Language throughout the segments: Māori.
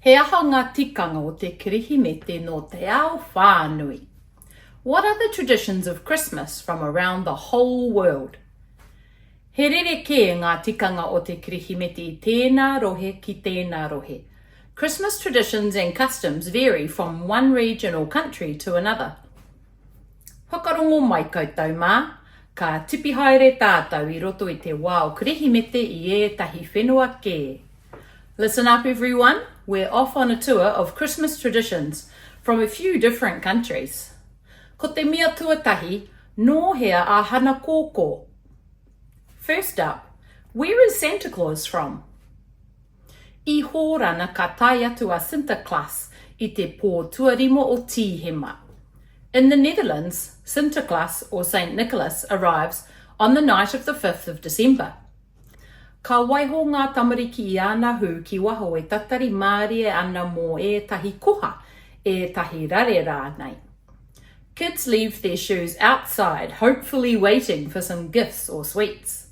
He aha ngā tikanga o te Kirihimete nō te ao whānui? What are the traditions of Christmas from around the whole world? He rerekē ngā tikanga o te Kirihimete i tēnā rohe ki tēnā rohe. Christmas traditions and customs vary from one region or country to another. Whakarongo mai koutou mā, ka tipi haere tātou i roto i te wā o Kirihimete i ētahi whenua kē. Listen up everyone, we're off on a tour of Christmas traditions from a few different countries. Ko te mea tuatahi, nō hea a Hana Kōkō? First up, where is Santa Claus from? I Hōrana ka tae atu a Sinterklaas i te pō tuarima o Tīhema. In the Netherlands, Sinterklaas or Saint Nicholas arrives on the night of the fifth of December. Ka waiho ngā tamariki i ana hū ki waho e tatari mārie ana mō ētahi koha, ētahi rare rānei. Kids leave their shoes outside hopefully waiting for some gifts or sweets.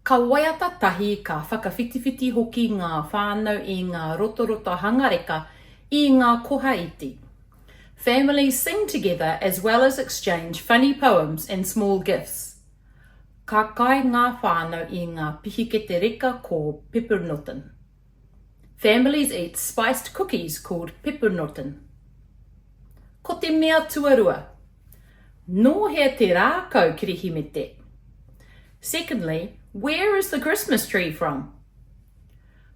Ka waiata tahi, ka whakawhitiwhiti hoki ngā whānau i ngā rotorota hangareka i ngā koha iti. Families sing together as well as exchange funny poems and small gifts. Ka kai ngā whānau i ngā pihikete reka ko Peppernoten. Families eat spiced cookies called peppernoten. Ko te mea tuarua, Nō hea te rākau Kirihimete? Secondly, where is the Christmas tree from?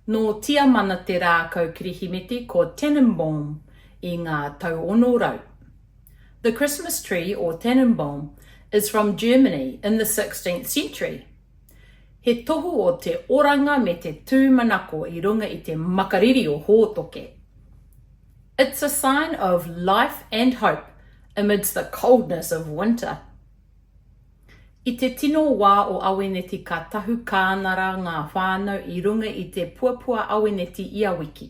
Nō Tiamana te rākau Kirihimete ko Tannenbaum i ngā tau ono rau. The Christmas tree or Tannenbaum is from Germany in the sixteenth century. He tohu o te oranga me te tūmanako i runga i te makariri o Hōtoke. It's a sign of life and hope amidst the coldness of winter. I te tino wā o Aweneti ka tahu kānara ngā whānau i runga i te puapua aweneti ia wiki.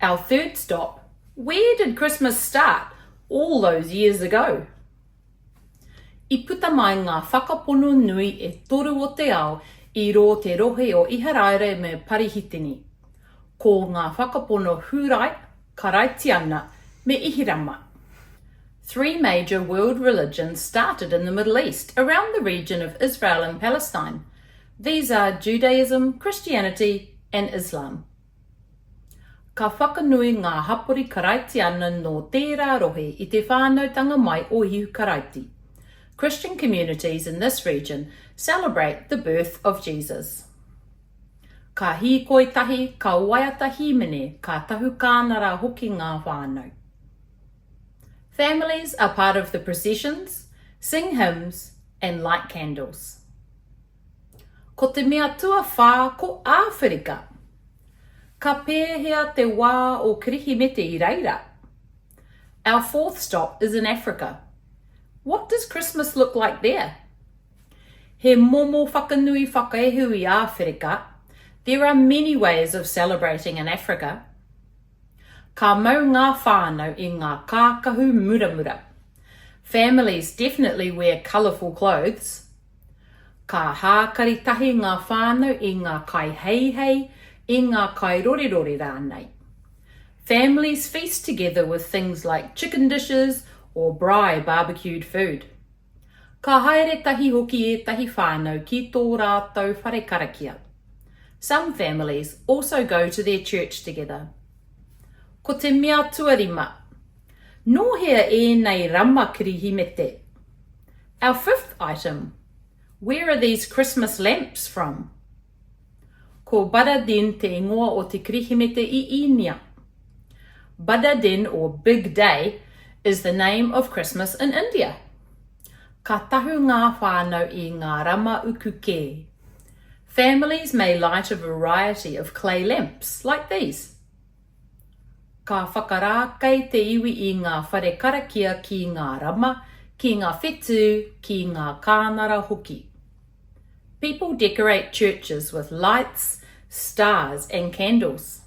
Our third stop, Where did Christmas start all those years ago? I puta mai ngā whakapono nui e toru o te ao i rō te rohe o Iharaira me Parihitini. Ko ngā whakapono Hūrai, Karaitiana me Ihirama. Three major world religions started in the Middle East around the region of Israel and Palestine. These are Judaism, Christianity and Islam. Ka whakanui ngā hapori Karaitiana nō tērā rohe i te whānautanga mai o Ihu Karaiti. Christian communities in this region celebrate the birth of Jesus. Ka hīkoi tahi, ka waiata hīmene, ka tahu kānara hoki ngā whānau. Families are part of the processions, sing hymns and light candles. Ko te mea tuawhā ko Āwherika. Ka pēhea te wā o Kirihimete i reira? Our fourth stop is in Africa. What does Christmas look like there? He momo whakanui whakaehu i Āwherika, There are many ways of celebrating in Africa. Ka mau ngā whānau i ngā kākahu muramura. Families definitely wear colourful clothes, Ka hākari tahi ngā whānau i ngā kaiheihei, i ngā kairorerore rānei. Families feast together with things like chicken dishes or braai barbecued food. Ka haere tahi hoki ētahi whānau ki tō rātou whare karakia. Some families also go to their church together. Ko te mea tuarima, Nō hea ēnei rama kirihimete? Our fifth item, Where are these Christmas lamps from? Ko Badadin te ingoa o te Kirihimete i Īnia. Badadin or Big Day is the name of Christmas in India. Ka tahu ngā whānau i ngā rama uku kē. Families may light a variety of clay lamps like these. Ka whakarākei te iwi i ngā whare karakia ki ngā rama, ki ngā whetū, ki ngā kānara hoki. People decorate churches with lights, stars and candles.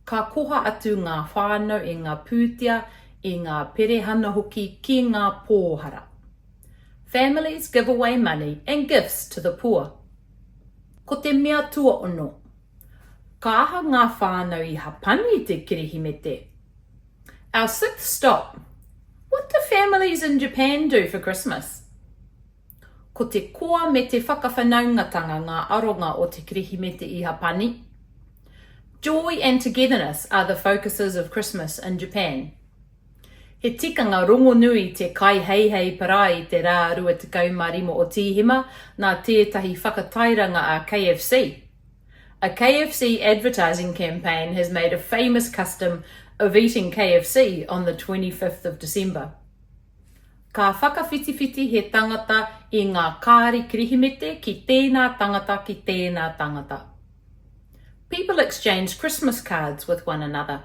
Ka koha atu ngā whānau i ngā pūtea, i ngā perehana hoki ki ngā pōhara. Families give away money and gifts to the poor. Ko te mea tuaono. Ka aha ngā whānau i hapani i te Kirihimete? Our sixth stop, What do families in Japan do for Christmas? Ko te koa me te whakawhanaungatanga ngā aronga o te Kirihimete i Hapani. Joy and togetherness are the focuses of Christmas in Japan. He tikanga rongonui te kaiheihei parai i te rā 25 o Tīhema nā tētahi whakatairanga a KFC. A KFC advertising campaign has made a famous custom of eating KFC on the 25th of December. Ka whakawhitiwhiti he tangata i ngā kāri Kirihimete ki tēnā tangata ki tēnā tangata. People exchange Christmas cards with one another.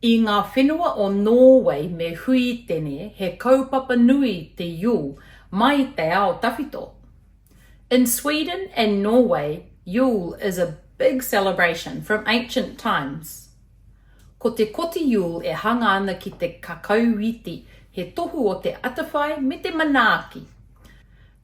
I ngā whenua o Nōwei me Huitene he kaupapa nui te Yule mai te ao tawhito. In Sweden and Norway Yule is a big celebration from ancient times. Ko te koti Yule e hanga ana ki te kakau wīti he tohu o te atawhai me te manaaki.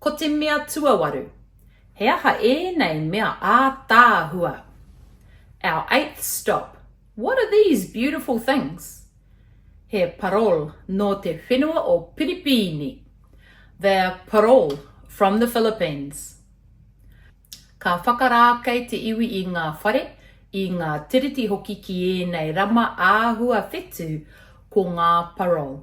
Ko te mea tuawaru, he aha ēnei mea ātaahua? Our eighth stop, what are these beautiful things? He parole nō te whenua o Piripīni. They're parole from the Philippines. Ka whakarākei te iwi i ngā whare, i ngā tiriti hoki ki ēnei rama āhua whetū, ko ngā parole.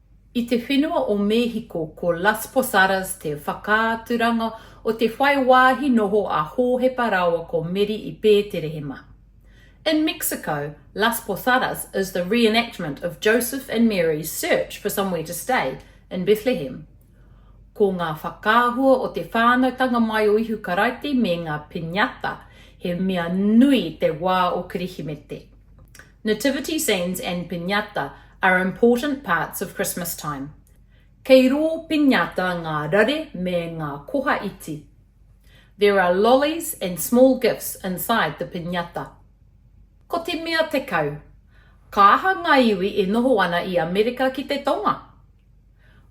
I te whenua o Mēhiko, ko Las Posadas te whakaaturanga o te whai wāhi noho a Hōhepa rāua ko Meri i Pēterehema. In Mexico, Las Posadas is the re-enactment of Joseph and Mary's search for somewhere to stay in Bethlehem. Ko ngā whakaahua o te whānautanga mai o Ihu Karaiti me ngā piñata he mea nui te wā o Kirihimete. Nativity scenes and piñata are important parts of Christmas time. Kei rō piñata ngā rare me ngā koha iti. There are lollies and small gifts inside the piñata. Ko te mea tekau, Ka aha ngā iwi e noho ana i Amerika ki te Tonga?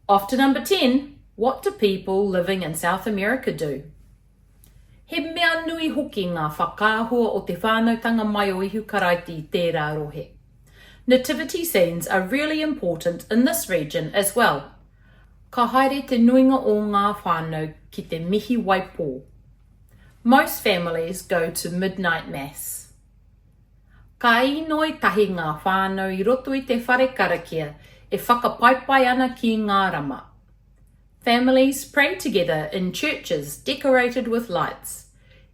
Often number ten, What do people living in South America do? He mea nui hoki ngā whakaahua o te whānautanga mai o Ihu Karaiti i tērā rohe. Nativity scenes are really important in this region as well. Ka haere te nuinga o ngā whānau ki te mihi waipō. Most families go to midnight mass. Ka īnoi tahi ngā whānau i roto i te whare karakia e whakapaipai ana ki ngā rama. Families pray together in churches decorated with lights.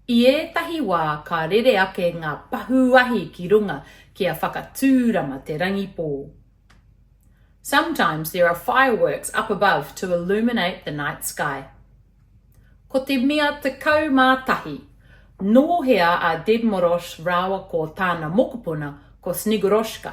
I ētahi wā ka rere ake ngā pahū ahi ki runga kia whakatūrama te rangipō. Sometimes there are fireworks up above to illuminate the night sky. Ko te mea 11. Nō hea a Dedmoros rāua ko tāna mokopuna ko Snegoroshka?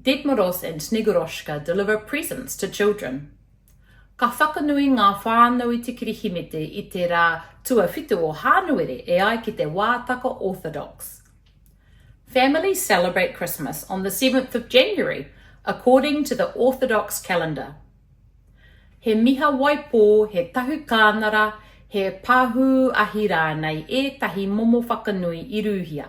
Dedmoros and Snegurotchka deliver presents to children. Ka whakanui ngā whānau i te Kirihimete i te rā tuawhitu o Hānuere e ai ki te wātaka Orthodox. Families celebrate Christmas on the seventh of January according to the Orthodox calendar. He miha waipō, he tahu kānara, he pahū ahi rānei ētahi momo whakanui i rūhia.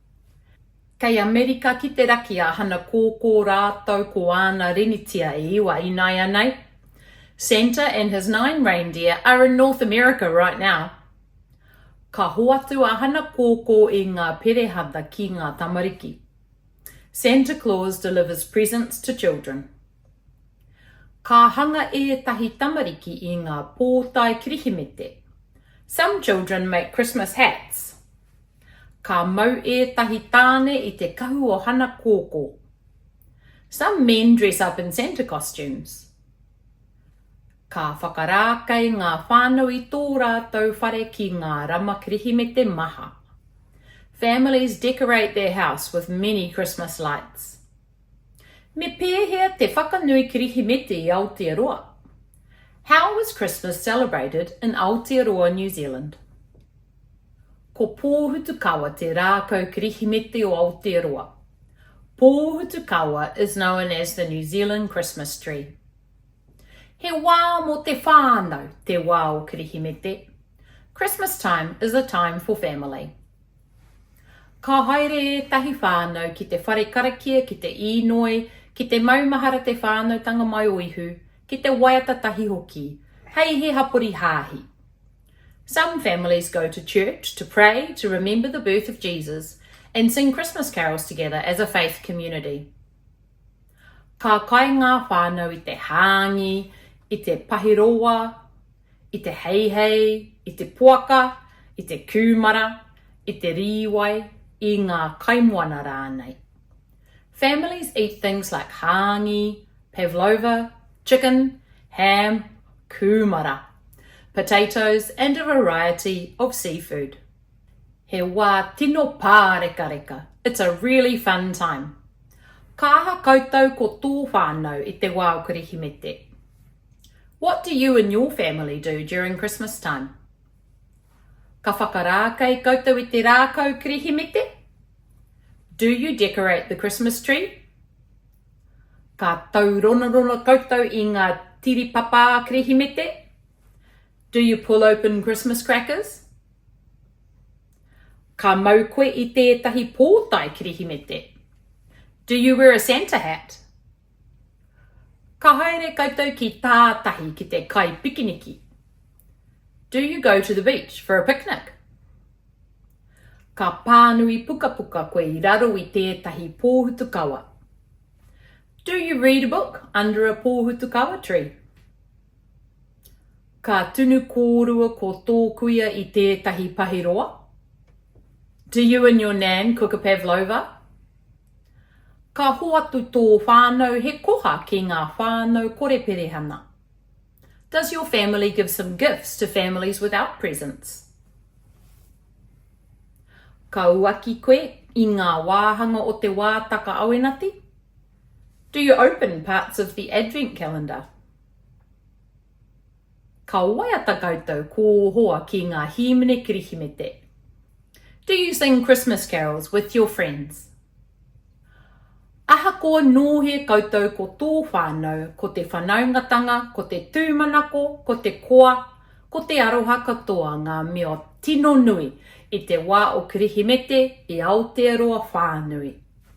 Kei Amerika ki te Raki a Hana Kōkō rātou ko āna rinitia e iwa inaianei. Santa and his nine reindeer are in North America right now. Ka hoatu a Hana Kōkō i ngā perehata ki ngā tamariki. Santa Claus delivers presents to children. Ka hanga ētahi tamariki i ngā pōtae Kirihimete. Some children make Christmas hats. Ka mau ētahi tāne i te kahu o Hana Kōkō. Some men dress up in Santa costumes. Ka whakarākei ngā whānau i tō rātou whare ki ngā rama Kirihimete maha. Families decorate their house with many Christmas lights. Me pēhea te whakanui Kirihimete i Aotearoa? How is Christmas celebrated in Aotearoa, New Zealand? Ko Pōhutukawa te rākau Kirihimete o Aotearoa. Pōhutukawa is known as the New Zealand Christmas tree. He wā mō te whānau te wā o Kirihimete. Christmas time is a time for family. Ka haere ētahi whānau ki te whare karakia ki te īnoi, ki te maumahara te whānautanga mai o Ihu, ki te waiata tahi hoki, hei he hapori hāhi. Some families go to church to pray, to remember the birth of Jesus, and sing Christmas carols together as a faith community. Ka kai ngā whānau i te hāngi, i te pahiroa, i te heihei, i te poaka, i te kūmara, i te rīwai, i ngā kaimoana rānei. Families eat things like hāngi, pavlova, chicken, ham, kūmara, potatoes and a variety of seafood. He wā tino pārekareka, it's a really fun time. Ka aha koutou ko tō whānau i te wā o Kirihimete? What do you and your family do during Christmas time? Ka whakarākei koutou i te rākau Kirihimete? Do you decorate the Christmas tree? Ka tauronarona koutou i ngā tiripapā Kirihimete? Do you pull open Christmas crackers? Ka mau koe i tētahi pōtae Kirihimete? Do you wear a Santa hat? Ka haere koutou ki tātahi ki te kai pikiniki? Do you go to the beach for a picnic? Ka pānui pukapuka koe i raro i tētahi pōhutukawa? Do you read a book under a pōhutukawa tree? Ka tunu kōrua ko tō kuia i tētahi pahiroa? Do you and your nan cook a pavlova? Ka hoatu tō whānau he koha ki ngā whānau kore perehana. Does your family give some gifts to families without presents? Ka uaki koe i ngā wāhanga o te wā takaawenati? Do you open parts of the Advent calendar? Ka waiata koutou ko ō hoa ki ngā hīmene Kirihimete? Do you sing Christmas carols with your friends? Ahakoa nōhē koutou ko tō whānau, ko te whanaungatanga, ko te tūmanako, ko te koa, ko te aroha katoa ngā mea tino nui i te wā o Kirihimete i Aotearoa whānui.